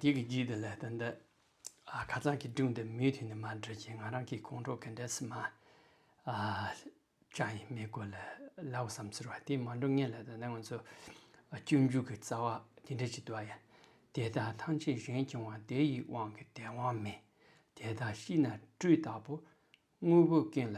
དེ་གི་རྗེས་དེ་ལས་དོན་འདི། ཁ་ཚང་གི་སྒྲུང་འདི་མུས་མཐུད་ནས་མ་འབྲི་ཅིང་ང་རང་གི་ཁོང་ཁྲོ་གི་འདྲེ་སྲིན་མ། ཅང་ཡིན་མེད་སྐོར་ལ་ལ་འོ་བསམ་ཟེར་བ་དེ་མ་འགྲོ་ངེས་ལ་དོན་དེ་ང་ཚོ་སྤྱོད་འཇུག་གི་རྩ་བ་དེ་འདྲ་ཞིག་འདུག་ཡ། དེ་དག་ཐམས་ཅད་གཞན་གྱི་དབང་དེ་ཡི་དབང་གི་དེ་དབང་མེད། དེ་དག་ཤི་ན་སྤྲུལ་དག་པོ། དངོས་པོའི་རྐྱེན་ལ་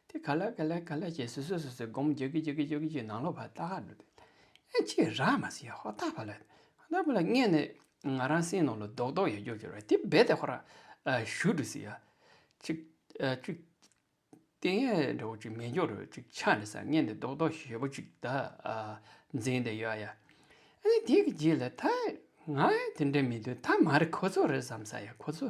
དེ་ག་ལ་ག་ལ་ག་ལ་ཞེས་སུ་སུ་སུ་སུ་སྒོམ་རྒྱུག་རྒྱུག་རྒྱུག་རྒྱུག་རྒྱུག་ནང་ལོག་བར་ལྟ་ག་ལུགས་དེ། ཨེ་ཅི་ར་མ་ཟེར་ཧོ་ད་བ་ལ། ཧོ་ད་བ་ལ་སྔས་ནས་ང་རང་སེམས་ནང་ལ་རྡོག་རྡོག་ཡོད་རྒྱུག་གྱུར་བ་དེ་རྦད་དེ་ཧོ་ར། ཞུ་འགྲོ་ཟེར། ཅིག། ཅིག། དེ་ངས་འདྲ་བོ་ཅིག་མི་འགྱུར་རོ་ཅིག་ཆ་ནས་ས་ངས་ནས་རྡོག་རྡོག་ཞེ་པོ་ཅིག་ད། འཛིན་དེ་ཡོད་ཡ། ཨེ་དེ་གི་རྗེས་ལ་ད་ང་དེ་འདྲ་མི་འདུག་ད་མ་རེད་ཁོ་ཚོ་རེད་བསམ་ས་ཡོད་ཁོ་ཚོ་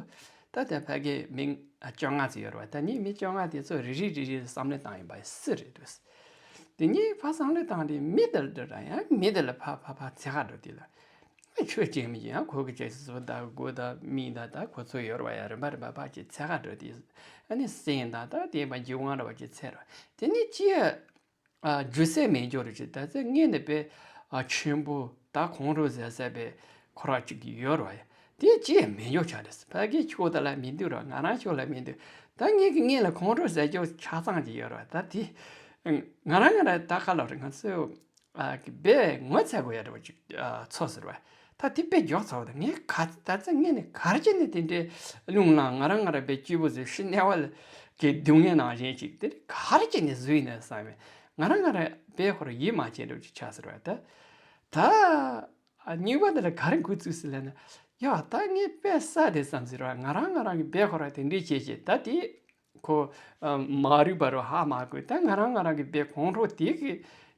ད་ལྟ་ཕ་གི་མི་བཅོ་ལྔ་ཙི་ཡོད་རེད་བ་ད་ནི་མི་བཅོ་ལྔ་དེ་ཚོ་རེ་རེ་རེ་རེ་བསམ་བློ་བཏང་ཡོད་པ་སུ་རེད་འདུག་དེ་གཉིས་ཕ་བསམ་བློ་བཏང་སྟེ་མི་དེ་འདྲ་རང་ཡང་མི་དེ་ལ་ཕ་ཕ་ཕ་ཚེ་ཧ་འགྲོ་དེ་ལ་ཨེ་ཁྱོད་ཅེ་མི་ཅེ་ཡང་ཁོ་གི་ཅེ་ཅེ་ཟོ་ད་གོ་ད་མི་ད་ད་ཁོ་ཚོ་ཡོད་རེད་བ་ཡ་རིན་པ་རིན་པ་ཕ་ཅེ་ཚེ་ཧ་འགྲོ་དེ་ཨ་ནི་སེང་ད་ད་དེ་བ་འཇིགས་དབང་རེད་བ་ཅེ་ཚེ་རེད་བ་དེ་ནི་ཅི་ཡ། རྒྱུ་གསལ་མེད་འགྱུར་རོ་ཅི་ད་ཚེ་ངེད་ནི་དཔལ་ཆེན་པོ་ད་གོང་རུ་ཟས་ཟད་པའི་ཁོ་ར་ཅིག་ཡོད་རོ་ཡ་དེ་ཅི་ཡང་མི་འགྱུར་ཆ་རེད་ཕ་གིའི་ཁྱོ་ད་ལ་མི་འདུག་རོ་ང་རང་ཁྱོ་ལ་མི་འདུག་ད་ངེད་ཀྱི་ངེད་ལ་གོང་རུ་ཟས་ཅོ་ཆ་ཚང་ཅིག་ཡོད་རོ་ད་དེ་ང་རང་ང་རང་ད་ག་ལ་རོ་ང་ཚོའི་བས་ངོ་ཚ་དགོས་ཡ་རོ་ཅིག་ཚོ་ཟེར་བ་ད་དེ་དཔེ་འཇོག་ཚར་བ་དང་ངས་ག་ཚོད་ད་ཚོད་ངས་ནི་གར་གྱི་ནི་དེ་འདྲའི་རླུང་ལངས་ང་རང་ང་རང་པའི་སྐྱེས་བུ་ཟེར་ཤི་ནས་བ་ལ་གི་སྡུག་བསྔལ་ནང་བཞིན་ཅིག་དེ་ནི་གར་གྱི་ནི་བཟོས་ནས་བསམ་བས་ང་རང་ང་རང་པའི་ཧོར་ཡིད་མ་ཆེས་འགྲོ་ཅིག་བྱ་ཟེར་བ་དང། ད་སྙིང་བ་འདི་ལ་གར་འགོད་ཚུལ་ཟེར་ལན་ན། ཡ་ད་ངས་པས་ས་དེ་བསམ་ཟེར་བ་ང་རང་ང་རང་གི་པའི་ཧོར་བ་དེ་འདྲས་བྱས་ཤིང་ད་དེ་ཁོ། མ་རིག་པ་རུ་ཧ་མ་གོ། ད་ང་རང་ང་རང་གི་བའི་གོང་རོ་དེ་གི།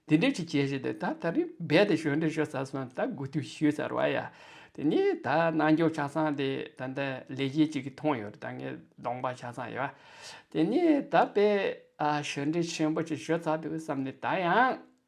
དེ་འདྲས་ཅིག་བྱས་ཞེས་ཏེ་ད་ད་རིང་རྦད་དེ་ཞོན་འདྲེ་ཤོར་ཚར་སོང་ད་དགུ་དུས་ཞུས་ཚར་བ་ཡ། དེ་ནས་ད་རྣལ་འབྱོར་ཆ་ཚང་དེ་ད་ལྟ་ལས་གཞི་ཅིག་གི་ཐོང་ཡོད་ད་ངའི་གདོང་པ་ཆ་ཚང་ཡ། དེ་ནས་ད་བས། ཞོན་འདྲེ་ཆེན་པོ་ཅིག་ཞོར་ཚར་འདུག་བསམ་ནས་ད་ཡང།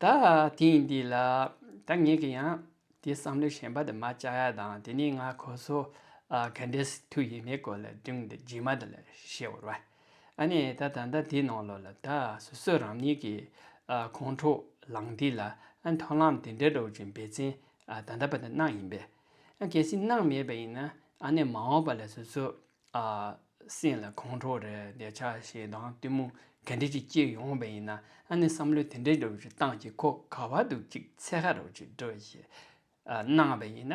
ད་ཐེངས་འདི་ལ་ད་ངས་ཀྱི་ཡང་དེ་བསམ་བློ་ཞན་པ་དེ་མ་བཅའ་ཡ་དང་དེ་ནས་ང་ཁོ་ཚོ་ག་འདྲའི་སི་ཐུ་ཡིན་མིན་སྐོར་ལ་སྒྲིང་འདི་རྗེས་མ་དེ་ལ་ཤེས་བོར་བ། ཨ་ནས་ད་ད་ལྟ་དེའི་ནང་ལོགས་ལ་ད་སོ་སོས་རང་ཉིད་ཀྱི་ཁོང་ཁྲོ་ལངས་དུས་ལ་མཐོང་ལམ་དེ་འདྲའི་སྒྲོག་ཅིང་འབད་བརྩོན་ད་ལྟ་བ་དེ་གནང་ཡིན་པས། གལ་སྲིད་གནང་མེད་པ་ཡིན་ན་ཨ་ནས་མ་འོངས་པ་ལ་སོ་སོས་སེམས་ལ་ཁོང་ཁྲོ་རེ་བདེ་ཆ་ཞེ་སྡང་གཏི་མུག་ག་འདྲས་ཀྱིས་བསྐྱེད་ཡོང་བས་ཡིན་ན་ཨ་ནི་བསམ་བློ་དེ་འདྲའི་འགྲོ་བའི་སྟངས་ཀྱིས་ཁོ་ག་བ་འདུག་ཅིག་ཚེ་ཧ་རོ་ཅིག་འགྲོ་ཞེས་སྣང་བས་ཡིན་ན་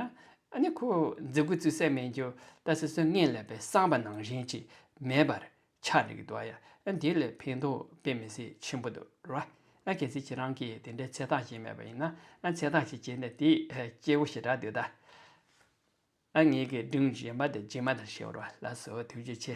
ཨ་ནི་ཁོ་འཛི་དགོས་ཚུལ་གསལ་མེད་འགྱུར་ད་སོ་སོའི་ངེས་ལེགས་པའི་བསམ་པ་ནང་བཞིན་ཅིག་མེད་པར་ཆགས་རིགས་འདུག་ཡ་ཨ་འདི་ལས་ཕན་ཐོག་དཔེ་མི་སྲིད་ཆེན་པོ་འདུག་རོ་ཨ་གལ་སྲིད་ཁྱེད་རང་གིས་དེ་འདྲའི་ཚེ་ཐག་བཞེས་མེད་པ་ཡིན་ན་ཨ་ཚེ་ཐག་ཅིག་བཞེས་ནས་དེའི་སྐྱེ་བོ་ཞེ་དྲག་འདི་ལྟ། ཨ་མྱེས་ཀྱི་སྒྲུང་བཞིན་པ་དེ་རྗེས་མ་དང་བྱེ་བ་ལ་སོགས་དུས་ཀྱི་ཆེ།